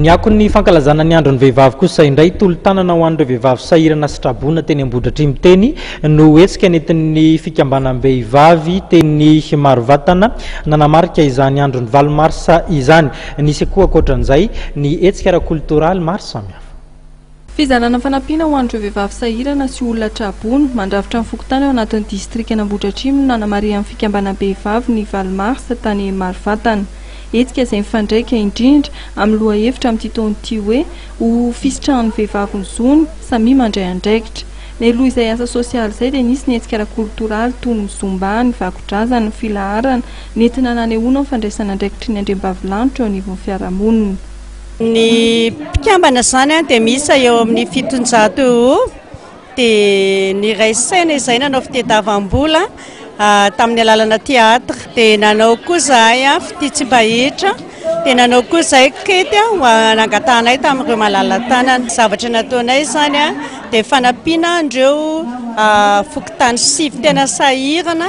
Ny akon'ny fankalazana ny andron'ny vehivavy kosa indray tolo-tanana ho an'ireo vehivavy sahirana sy traboina teny Ambohidratrimo teny no hetsika nentin'ny fikambanam-behivavy teny Marovatana nanamarika izany andron'ny valo marsa izany. Nisy koa ankoatran'izay ny hetsika ara-koltoraly maro samihafa. Fizarana fanampiana ho an'ireo vehivavy sahirana sy olona tra-boina, mandrafitra ny fokontany ao anatin'ny distrikan'Ambohidratrimo no nanamarihan'ny fikambanam-behivavy ny valo marsa tany Marovatana. Hetsika izay mifandraika indrindra amin'ny lohahevitra amin'ity taona ity hoe Ho fisitrahan'ny vehivavy ny zony, samia mandray andraikitra. Mialoha izay asa sosialy izay dia nisy ny hetsika ara-kolotoraly toy ny Zumba, ny vakodrazana, ny filaharana nentina nanehoana ny fandraisan'andraikitry ny andriambavilanitra eo anivon'ny fiarahamonina. Ny mpikambana izany dia miisa eo amin'ny fitonjato eo ho eo dia niray saina izahay nanao fitadiavam-bola tamin'ny alalana theatre dia nanao koa izahay fitia tsy mba hita dia nanao koa izahay kety nangatahanay tamin'ireo malala-tanana. Ny zavatra nataonay izany dia fanampiana an'ireo fokontany sivy tena sahirana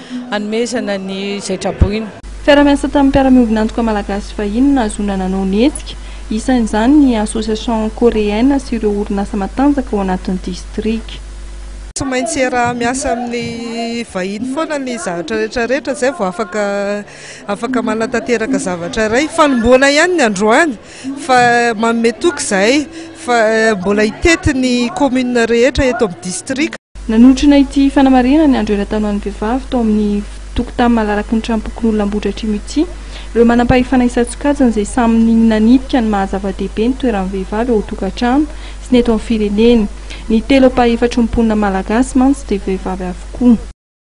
hanomezana ny izay traboina. Fiaraha-miasa tamin'ny mpiara-miombona antoka malagasy sy vahiny no nahazoana nanao ny hetsika, isan'izany ny Association Coréenne sy ireo orinasa matanjaka ao anatin'ny distrika. Tsy maintsy hiaraha-miasa amin'ny vahiny foana ny zavatra rehetra rehetra izay vao afaka afaka manatanteraka zavatra iray. Fanombohana ihany ny androany fa manome toky izahay fa mbola hitety ny commune rehetra eto amin'ny district. Nanotrona ity fanamarihana ny andro eran-tanoan'ny vehivavy tao amin'ny tokontany malaraky ny tranom-pokonolona Ambohidratrimo ity ireo manam-pahefana isan-tsokajiny izay samy nanipika ny maha zava-dehibe ny toeran'ny vehivavy ao an-tokantrano sy ny eto amin'ny firenena. Ny telo ampahefatry ny mponina malagasy mantsy dia vehivavy avokoa.